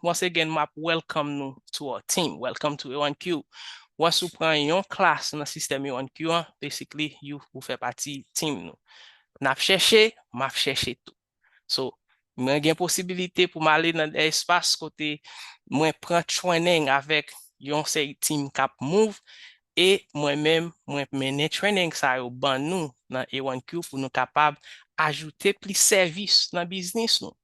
Once again map welcome nou to our team. Welcome to EONQ. Once ou pran yon klas nan sistèm EONQ an, basically you ou fè pati team nou. Nap chèche, map chèche tou. So, mwen gen posibilite pou m ale nan de espas kote mwen pran training avèk yon seri team kap move e mwen menm mwen mennen training sa yo ban nou nan EONQ pou nou kapab ajoute plis sèvis nan biznis nou.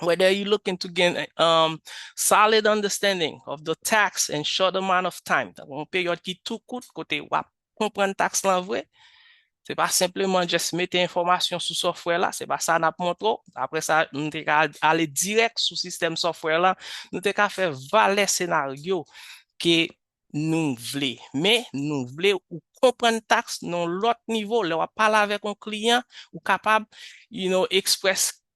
whether you looking to gain a um solid understanding of the tax in short amount of time, tankou yon peryòd ki tou kout kote w ap konprann taks lan vre, se pa senpleman just mete enfòmasyon sou software la, se pa sa n ap montre w, apre sa nou te ka ale dirèk sou sistèm software lan, nou te ka fè valè senaryo ke nou vle, men nou vle ou konprann taks nan yon lòt nivo, lè w ap pale avèk yon kliyan ou kapab you know express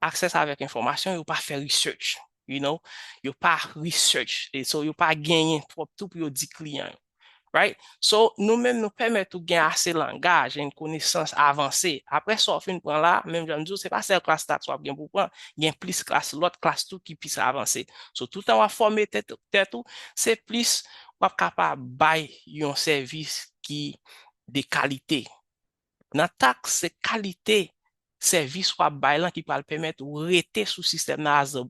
access avèk enfòmasyon yo pa fè research you know yo pa research e so yo pa genyen twòp tou pou yo di kliyan yo right so nou menm nou pèmèt ou gen ase langaj and konesans avanse aprè sa w fin pran la menm jan m di w se pa sèl klas stats w ap gen pou w pran gen plis klas lòt klas tou ki plis avanse so toutan w ap fòme tèt ou se plis w ap kapab bay yon sèvis ki de kalite. nan taks se kalite sèvis wap bay lan ki pral pèmèt ou rete sou sistèm nan as a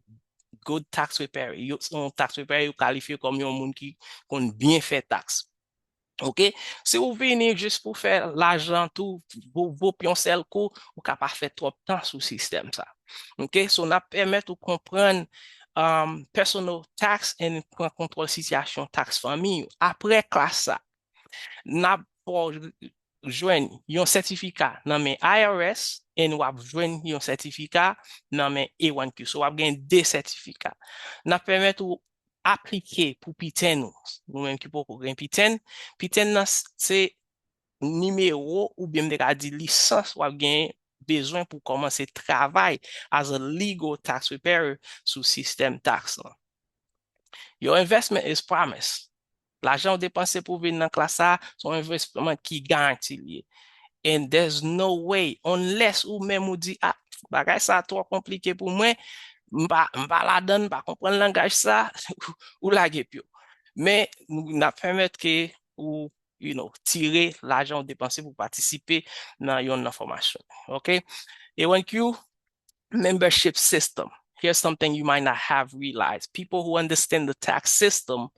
good tax preparer yo se yon tax preparer yo kalifye kòm yon moun ki konn byen fè taks ok si ou vini jis pou fè lajan tou voup voup yon sèl kou ou ka pa fè twòp tan sou sistèm sa ok so nap pèmèt ou konprann personal tax and pran kontwòl sitiyasyon taks fanmiy ou aprè klas sa nap baw jwenn yon sètifika nan men IRS and w ap jwenn yon sètifika nan men A1Q. So w ap gen 2 sètifika. N ap pèmèt ou aplike pou piten ou. Nou menm ki poko gen piten, piten nan se nimewo oubyen m te ka di lisans w ap gen bezwen pou kòmanse travay as a legal tax preparer sou sistèm taks lan. Your investment is promised. Lajan ou depanse pou vin nan klas sa a, se yon envesman ki garanti li ye. And there's no way, unless ou menm ou di, ah, bagay sa a twò konplike pou mwen, m pa, m pa ladan l, m pa konprann langaj sa, ou lage pye w. Men, n ap pèmèt ke ou, you know, tire lajan ou depanse pou patisipe nan yonn nan fòmasyon yo. Ok? Ewenkyou, membership system. Here's something you might not have realized. People who understand the tax system,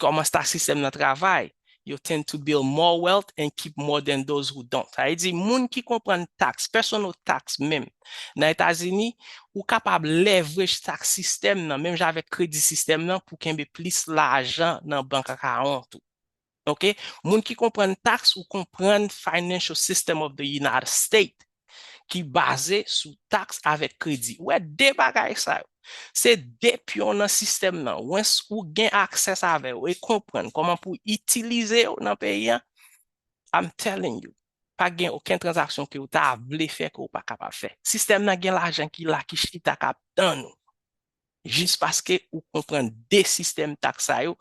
kòman sta sistèm nan travay, yo tend to build more wealth and keep more than those who don't. Sa vle di, moun ki konprann tax, personal tax menm, nan Etazini, ou kapab leverage tax system nan, menm jan avèk kredi sistèm nan, pou kenbe plis lajan nan bank akawont ou. ok moun ki konprann tax ou konprann financial system of the united state ki baze sou tax avek kredi ou wè 2 bagay sa yo se 2 pyon nan sistèm nan wens ou gen access avè yo e konprann koman pou itilize yo nan peyi an I'm telling you pa gen oken transaksyon ke ou ta vle fè ke ou pa kapab fè sistèm nan gen lajan ki la ki chita kap tann ou jis paske ou konprann de sistèm taks sa yo,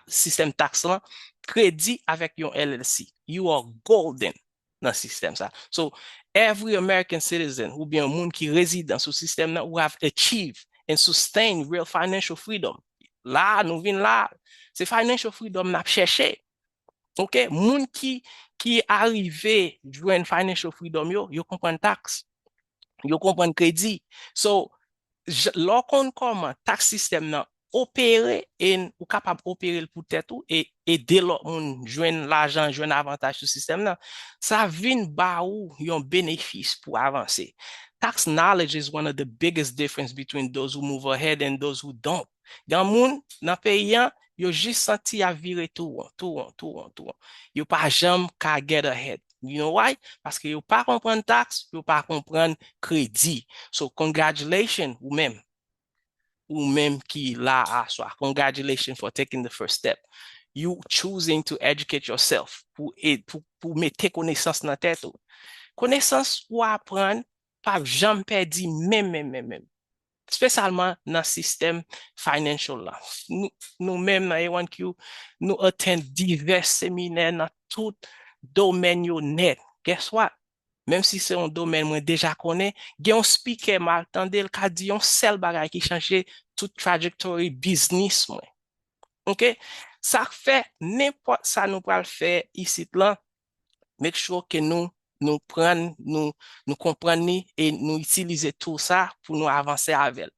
sistèm taks lan, kredi avèk yon LLC, you are golden nan sistèm sa. So, every American citizen oubyen yon moun ki rezidan sou sistèm nan who have achieved and sustained real financial freedom, la a nou vin la a, se financial freedom n ap chèche, ok, moun ki arive jwenn financial freedom yo, yo konprann taks, yo konprann kredi. So, lè w konn kòman tax system nan opere e ou kapab opere l pou tèt ou e ede lòt moun jwenn lajan, jwenn avantaj sou sistèm nan, sa vin ba ou yon benefis pou avanse. Tax knowledge is one of the biggest difference between those who move ahead and those who don't. Gan moun nan peyi an yo jis santi ya vire tou won, tou won, tou won, tou won. Yo pa janm ka get ahead. You know why? Paske yo pa konprann tax, yo pa konprann kredi. So congratulations ou menm, ou menm ki la a aswa, congratulations for taking the first step. You choosing to educate yourself, pou pou mete konesans nan tèt ou. Konesans ou aprann pap janm pèdi menm menm menm menm. spesyalman nan sistèm financial la. Nou menm nan A1Q, nou attend divès seminè nan tout domèn yo nèt. Guess what? Menm si se yon domèn mwen deja konnen, gen yon speaker m al tande l ka di yon sèl bagay ki chanje tout trajectory biznis mwen. Ok? Sa k fè nenpòt sa nou pral fè isit lan, make sure ke nou nou prann nou nou konprann li e nou itilize tool sa pou nou avanse avèl.